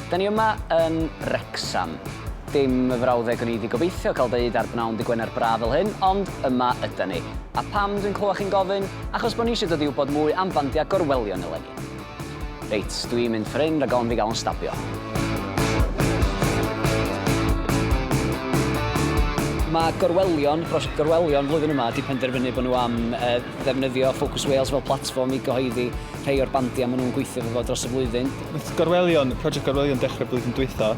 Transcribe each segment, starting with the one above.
Da ni yma yn Wrecsam. Dim y frawddeg o'n i wedi gobeithio cael dweud ar bnawn dy Gwener braf fel hyn, ond yma yda ni. A pam dwi'n clywed chi'n gofyn? Achos bod ni eisiau dod i wybod mwy am fandiau gorwelion eleni. Reit, dw i'n mynd ffor hyn rhag ofn fi gael yn stabio. Mae gorwelion, prosiect gorwelion flwyddyn yma wedi penderfynu bod nhw am uh, ddefnyddio Focus Wales fel platfform i gyhoeddi rhai o'r bandiau maen nhw'n gweithio efo dros y flwyddyn. Mae gorwelion, prosiect gorwelion dechrau blwyddyn dwytho,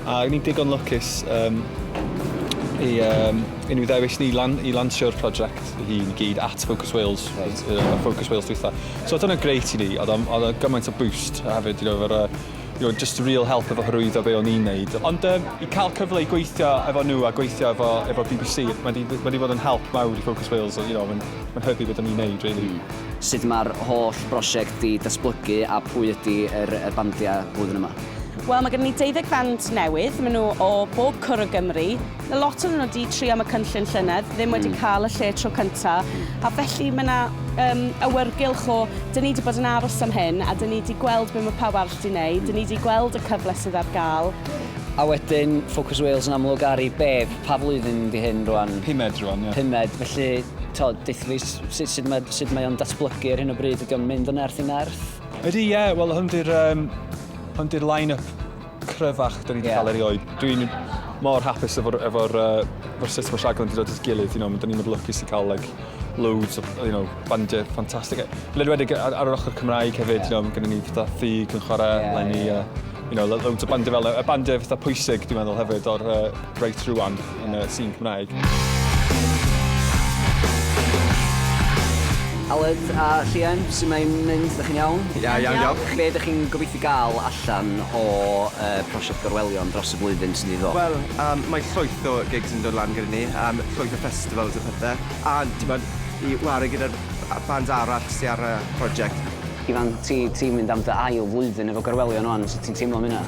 A ni'n digon lwcus um, i, um, i ni ddewis ni lan, i lansio'r prosiect i gyd at Focus Wales, right. uh, Focus Wales dwytha. So dyna greit i ni, oedd o gymaint o boost hefyd, you know, efo'r uh, you know, just real help efo hyrwyddo be o'n i'n neud. Ond um, i cael cyfle i gweithio efo nhw a gweithio efo, efo BBC, mae wedi bod yn help mawr i Focus Wales, you know, mae'n ma hybu beth o'n i'n neud, really. Mm. Sut mae'r holl brosiect di datblygu a pwy ydy yr, er, er bandiau flwyddyn yma? Wel mae gen ni deuddeg fand newydd, maen nhw o bob cwr o Gymru. Mae lot o'n nhw wedi tri am y cynllun llynedd, ddim wedi hmm. cael y lle tro cyntaf, hmm. a felly mae yna um, awyrgylch o, dyn ni wedi bod yn aros am hyn, a dyn ni wedi gweld beth mae pawb arall wedi gwneud, dyn ni wedi gweld y cyfle sydd ar gael. A wedyn, Focus Wales yn amlwg ar ei beb, pa flwyddyn di hyn rwan? Pumed rwan, ie. Pumed, felly, to, deithlus, sut, sut mae, sut mae o'n datblygu ar hyn o bryd, ydy o'n mynd o nerth i nerth? Ydy, ie. Yeah. Wel, hwn di'r um, hwn di'r line-up cryfach da ni wedi yeah. cael erioed. Dwi'n mor hapus efo'r efo uh, efo sut mae rhaglen wedi dod at gilydd. You know, da ni'n mynd lwcus i cael like, loads of you know, bandiau ffantastig. Led wedi ar, ar yr ochr Cymraeg hefyd, yeah. you know, gyda ni fatha Thug yn chwarae, yeah, Lenny, yeah. Uh, you know, loads o bandiau fel y bandiau fatha pwysig, dwi'n meddwl hefyd, o'r uh, Right Through One. yn y sîn Cymraeg. Aled a Llien, sut mae'n mynd? Dych chi'n iawn? Ia, iawn, diolch. Be ydych chi'n gobeithio gael allan o uh, prosiect gorwelion dros y flwyddyn sy'n ei ddod? Wel, um, mae llwyth o gigs yn dod lan gyda ni, um, llwyth o festivals a pethau, a ti'n bod, i wario gyda'r bands arall sy'n ar y prosiect. Ifan, ti'n ti mynd am dy ail flwyddyn efo gorwelion o'n, sut ti'n teimlo am hynna?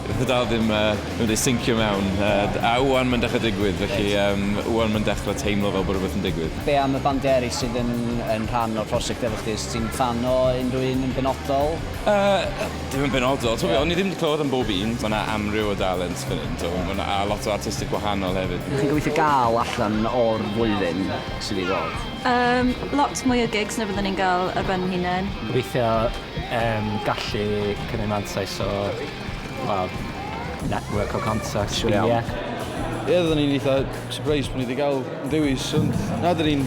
Dyw e dal ddim wedi sincio mewn, a 'wan mae'n dechrau digwydd, felly 'wan mae'n dechrau teimlo fel bod rhywbeth yn digwydd. Be am y bandiau eraill sydd yn rhan o'r prosiect efo chdi? Wyt ti'n ffan o unrhyw un yn benodol? Dim yn benodol. Tibod be, o'n i ddim 'di clywed am bob un. Mae 'na amryw o dalent fan hyn, tibod, a lot o artistiaid gwahanol hefyd. Be dych chi'n gobeithio gael allan o'r flwyddyn sydd i ddod? Lot mwy o gigs na fyddwn ni'n gael ar ben ein hunain. Gobeithio yym gallu cymryd mantais o wel network o contacts... Siwr iawn. ...ie. Ie oeddwn i'n eitha surprised bo' ni 'di ga'l un dewis ond na 'dyn ni'n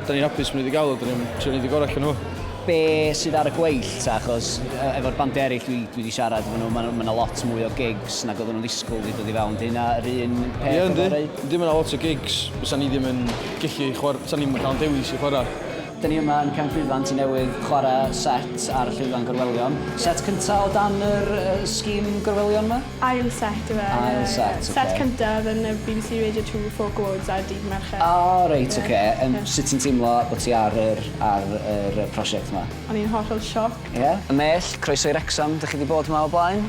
'dyn ni'n hapus bo' ni 'di ga'l o 'dyn ni am trio neud y gora' allan o fo. Be' sydd ar y gweill ta achos yy efo'r bandia eryll dwi dwi 'di siarad efo nw ma' ma' 'na lot mwy o gigs nag oddwn nw'n ddisgwl 'di dod i fewn 'di hynna yr un peth... Ie yndi. ...efory? Yndi ma' 'na lot o gigs fysan ni ddim yn gellu chwar- 'san ni'm yn ca'l 'yn dewis i chwara. Dyn ni yma yn Cefn Llwyfan Tŷ Newydd chwarae set ar Llwyfan Gorwelion. Set cynta' o dan yr scheme Gorwelion 'ma? Ail set yw e. Ail set, ocê. Set cyntaf yn y bbc Radio Two Folk Awards ar Dydd Mercher. O reit, ocê. Yym sut ti'n teimlo bod ti ar yr ar yr yy prosiect 'ma? O'n i'n hollol shocked. Ie? Y Mell, croeso i Wrecsam, dych chi 'di bod 'ma o blaen?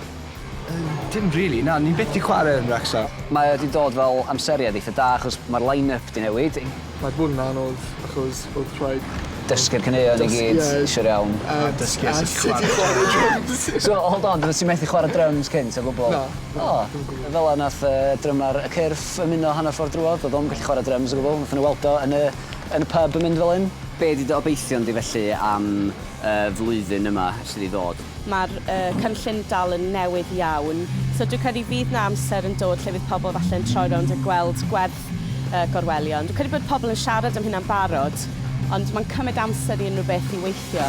Yy dim rili, na, ni byth 'di chware yn Wrecsam. Mae o 'di dod fel amseriad eitha da achos ma'r line-up 'di newid. Mae hwn yn anodd achos odd rhaid... Dysgu'r caneuon i gyd siwr iawn. A dysgu sut i chware dryms. So hold on oddet ti methu chware dryms cynt o gwbwl? Na. O! Fela nath yy drymar y cyrff ymuno hanner ffordd drwodd, do'dd o'm yn gallu chware dryms o gwbwl, nathon n'w weld o yn y yn y pub yn mynd fel 'yn. Be' 'di dy obeithion di felly am y flwyddyn yma sydd i ddod. Mae'r cynllun dal yn newydd iawn, so dwi'n credu fydd 'na amser yn dod lle fydd pobl falle yn troi rownd a gweld gwerth y gorwelion. Dwi'n credu bod pobl yn siarad am hynna'n barod, ond mae'n cymryd amser i unrhyw beth i weithio.